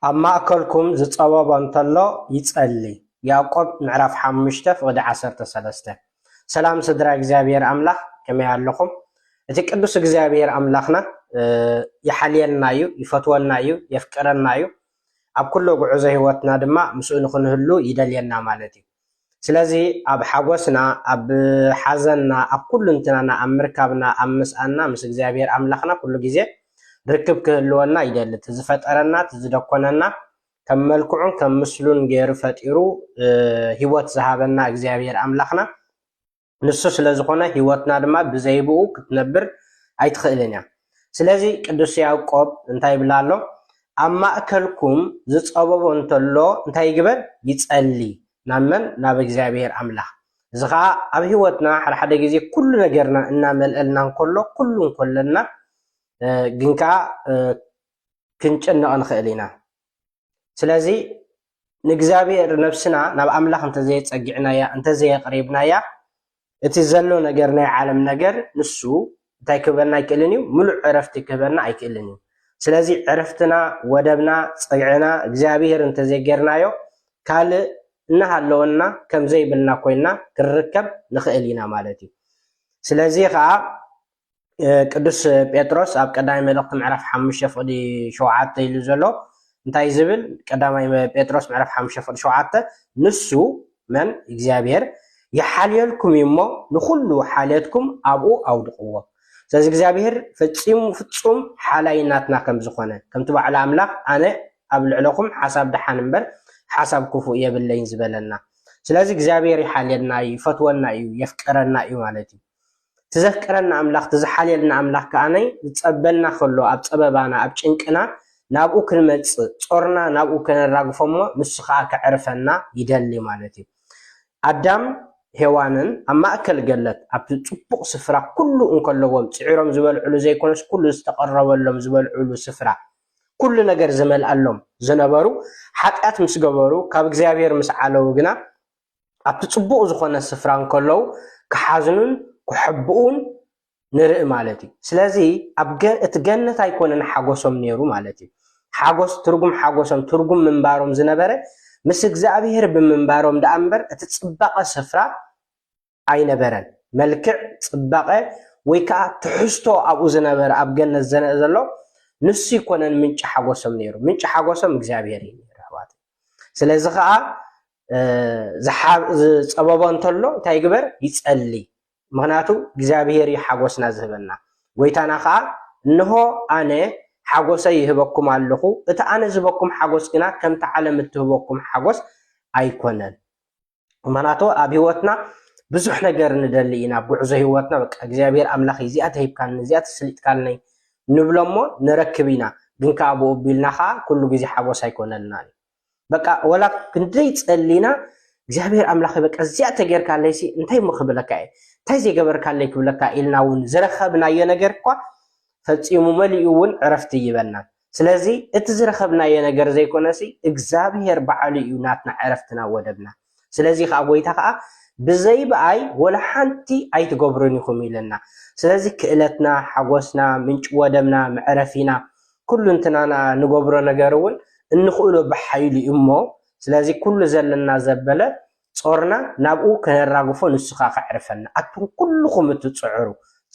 ኣብ ማእከልኩም ዝጸበቦ እንተሎ ይጸሊ ያእቆብ ምዕራፍ ሓሙሽተ ፍቕዲ ዓሰርተ ሰለስተ ሰላም ስድራ እግዚኣብሔር ኣምላኽ ከመይ ኣለኹም እቲ ቅዱስ እግዚኣብሔር ኣምላኽና ይሓልየልና እዩ ይፈትወና እዩ የፍቅረና እዩ ኣብ ኩሎ ጉዕዞ ህይወትና ድማ ምስኡ ንክንህሉ ይደልየና ማለት እዩ ስለዚ ኣብ ሓጎስና ኣብ ሓዘንና ኣብ ኩሉንትናና ኣብ ምርካብና ኣብ ምስኣንና ምስ እግዚኣብሄር ኣምላኽና ኩሉ ግዜ ርክብ ክህልወና ይደሊ እቲ ዝፈጠረና እቲ ዝደኮነና ከም መልክዑን ከም ምስሉን ጌሩ ፈጢሩ ሂወት ዝሃበና እግዚኣብሄር ኣምላኽና ንሱ ስለ ዝኾነ ህይወትና ድማ ብዘይብኡ ክትነብር ኣይትኽእልን እያ። ስለዚ ቅዱስ ያዕቆብ እንታይ ይብል ኣሎ? ኣብ ማእከልኩም ዝጸበቦ እንተሎ እንታይ ይግበር? ይጸሊ። ናብ መን? ናብ እግዚኣብሔር ኣምላኽ። እዚ ኸኣ ኣብ ህይወትና ሓደ ሓደ ግዜ ኩሉ ነገርና እናመልአልና እንከሎ ኩሉ እንከለና ግን ከኣ ክንጭነቕ ንኽእል ኢና። ስለዚ ንእግዚኣብሔር ነብስና ናብ ኣምላኽ እንተዘየጸጊዕናያ እንተዘየቅሪብናያ እቲ ዘሎ ነገር ናይ ዓለም ነገር ንሱ እንታይ ክህበና ኣይክእልን እዩ ምሉእ ዕረፍቲ ክህበና ኣይክእልን እዩ ስለዚ ዕረፍትና ወደብና ጸግዕና እግዚኣብሔር እንተዘይጌርናዮ ካልእ እናሃለወና ከምዘይብልና ኮይና ክንርከብ ንኽእል ኢና ማለት እዩ ስለዚ ኸኣ ቅዱስ ጴጥሮስ ኣብ ቀዳማይ መልእኽቲ ምዕራፍ ሓሙሽተ ፍቕዲ ሸውዓተ ኢሉ ዘሎ እንታይ ዝብል ቀዳማይ ጴጥሮስ ምዕራፍ ሓሙሽተ ፍቕዲ ሸውዓተ ንሱ መን እግዚኣብሔር ይሓልየልኩም እዩ እሞ ንኹሉ ሓልየትኩም ኣብኡ ኣውድቕዎ ስለዚ እግዚኣብሔር ፈፂሙ ፍፁም ሓላይ ናትና ከም ዝኾነ ከምቲ ባዕሉ ኣምላኽ ኣነ ኣብ ልዕለኹም ሓሳብ ድሓን እምበር ሓሳብ ክፉእ የብለይን ዝበለና ስለዚ እግዚኣብሔር ይሓልየና እዩ ይፈትወና እዩ የፍቀረና እዩ ማለት እዩ እቲ ዘፍቅረና ኣምላኽ እቲ ዝሓልየልና ኣምላኽ ከኣ ዝጸበና ከሎ ኣብ ጸበባና ኣብ ጭንቅና ናብኡ ክንመጽእ ጾርና ናብኡ ከነራግፎ እሞ ንሱ ከኣ ከዕርፈና ይደሊ ማለት እዩ ኣዳም ሄዋንን ኣብ ማእከል ገለት ኣብቲ ጽቡቕ ስፍራ ኩሉ እንከለዎም ጽዒሮም ዝበልዕሉ ዘይኮነስ ኩሉ ዝተቐረበሎም ዝበልዕሉ ስፍራ ኩሉ ነገር ዝመልኣሎም ዝነበሩ ሓጢኣት ምስ ገበሩ ካብ እግዚኣብሔር ምስ ዓለው ግና ኣብቲ ጽቡቕ ዝኾነ ስፍራ እንከለዉ ክሓዝኑን ክሕብኡን ንርኢ ማለት እዩ። ስለዚ ኣብ እቲ ገነት ኣይኮነን ሓጎሶም ነይሩ ማለት እዩ። ሓጎስ ትርጉም ሓጎሶም ትርጉም ምንባሮም ዝነበረ ምስ እግዚኣብሄር ብምንባሮም ደኣ እምበር እቲ ጽባቐ ስፍራ ኣይነበረን። መልክዕ፣ ጽባቐ ወይ ከኣ ትሕዝቶ ኣብኡ ዝነበረ ኣብ ገነት ዘነእ ዘሎ ንሱ ኣይኮነን ምንጪ ሓጎሶም ነይሩ። ምንጪ ሓጎሶም እግዚኣብሄር እዩ ነይሩ ኣሕዋተይ። ስለዚ ከኣ ዝጸበቦ እንተሎ እንታይ ይግበር? ይጸሊ። ምክንያቱ እግዚኣብሄር እዩ ሓጎስና ዝህበና። ጎይታና ከኣ እንሆ ኣነ ሓጎሰይ ይህበኩም ኣለኹ፣ እቲ ኣነ ዝህበኩም ሓጎስ ግና ከምቲ ዓለም እትህበኩም ሓጎስ ኣይኮነን። ምክንያቱ ኣብ ሂወትና ብዙሕ ነገር ንደሊ ኢና ኣብ ጉዕዞ ሂወትና በቃ እግዚኣብሔር ኣምላኽ እዚኣ ተሂብካኒ እዚኣ ተሰሊጥካኒ ንብሎ እሞ ንረክብ ኢና ግን ከዓ ብኡ ቢልና ከዓ ኩሉ ግዜ ሓጎስ ኣይኮነልናን እዩ በቃ ወላ ክንደይ ጸሊና እግዚኣብሔር ኣምላኽ በቃ እዚኣ ተጌርካለይሲ እንታይ እሞ ክብለካ እየ እንታይ ዘይገበርካለይ ክብለካ ኢልና እውን ዝረኸብናዮ ነገር እኳ ፈፂሙ መሊኡ እውን ዕረፍቲ ይበናን ስለዚ እቲ ዝረኸብናዮ ነገር ዘይኮነሲ እግዝኣብሄር በዓሉ እዩ ናትና ዕረፍትና ወደብና ስለዚ ከኣ ጎይታ ከኣ ብዘይ ብኣይ ወላ ሓንቲ ኣይትገብሩን ኢኹም ኢለና ስለዚ ክእለትና ሓጎስና ምንጪ ወደብና መዕረፊና ኩሉንትናና ንገብሮ ነገር እውን እንኽእሎ ብሓይሉ እዩሞ ስለዚ ኩሉ ዘለና ዘበለ ጾርና ናብኡ ከነራግፎ ንሱ ከኣ ከዕርፈና ኣቱም ኩሉኹም እትጽዕሩ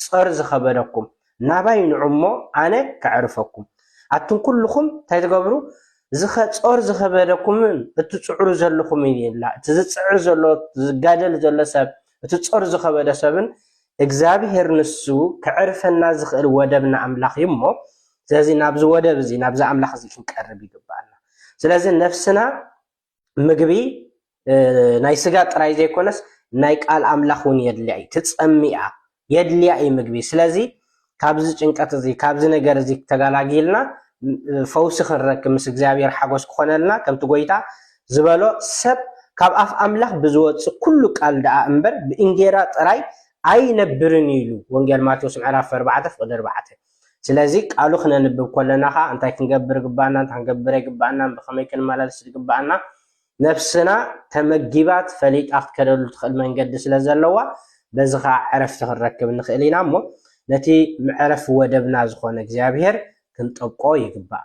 ጾር ዝኸበደኩም ናባይ ንዑ እሞ ኣነ ከዕርፈኩም ኣቱም ኩሉኹም እንታይ ትገብሩ ዝኸ ጾር ዝኸበደኩምን እትጽዕሩ ዘለኹምን ይላ እቲ ዝጽዕር ዘሎ ዝጋደል ዘሎ ሰብ እቲ ጾር ዝኸበደ ሰብን እግዚኣብሔር ንሱ ከዕርፈና ዝኽእል ወደብና ኣምላኽ እዩ እሞ ስለዚ ናብዚ ወደብ እዚ ናብዚ ኣምላኽ እዚ ክንቀርብ ይግባኣና ስለዚ ነፍስና ምግቢ ናይ ስጋ ጥራይ ዘይኮነስ ናይ ቃል ኣምላኽ እውን የድልያ እዩ ትጸምያ የድልያ እዩ ምግቢ ስለዚ ካብዚ ጭንቀት እዚ ካብዚ ነገር እዚ ተጋላጊልና ፈውሲ ክንረክብ ምስ እግዚኣብሔር ሓጎስ ክኾነልና ከምቲ ጎይታ ዝበሎ ሰብ ካብ ኣፍ ኣምላኽ ብዝወጽእ ኩሉ ቃል ደኣ እምበር ብእንጌራ ጥራይ ኣይነብርን ኢሉ ወንጌል ማቴዎስ ምዕራፍ 4 ፍቕዲ 4 ስለዚ ቃሉ ክነንብብ ከሎና ከኣ እንታይ ክንገብር ይግብኣና፣ እንታይ ክንገብር ኣይግብኣናን፣ ብኸመይ ክንመላለስ ዝግብኣና፣ ነፍስና ተመጊባት ፈሊጣ ክትከደሉ ትኽእል መንገዲ ስለ ዘለዋ በዚ ከኣ ዕረፍቲ ክንረክብ ንኽእል ኢና እሞ ነቲ መዕረፊ ወደብና ዝኾነ እግዚኣብሄር ክንጠብቆ ይግባእ።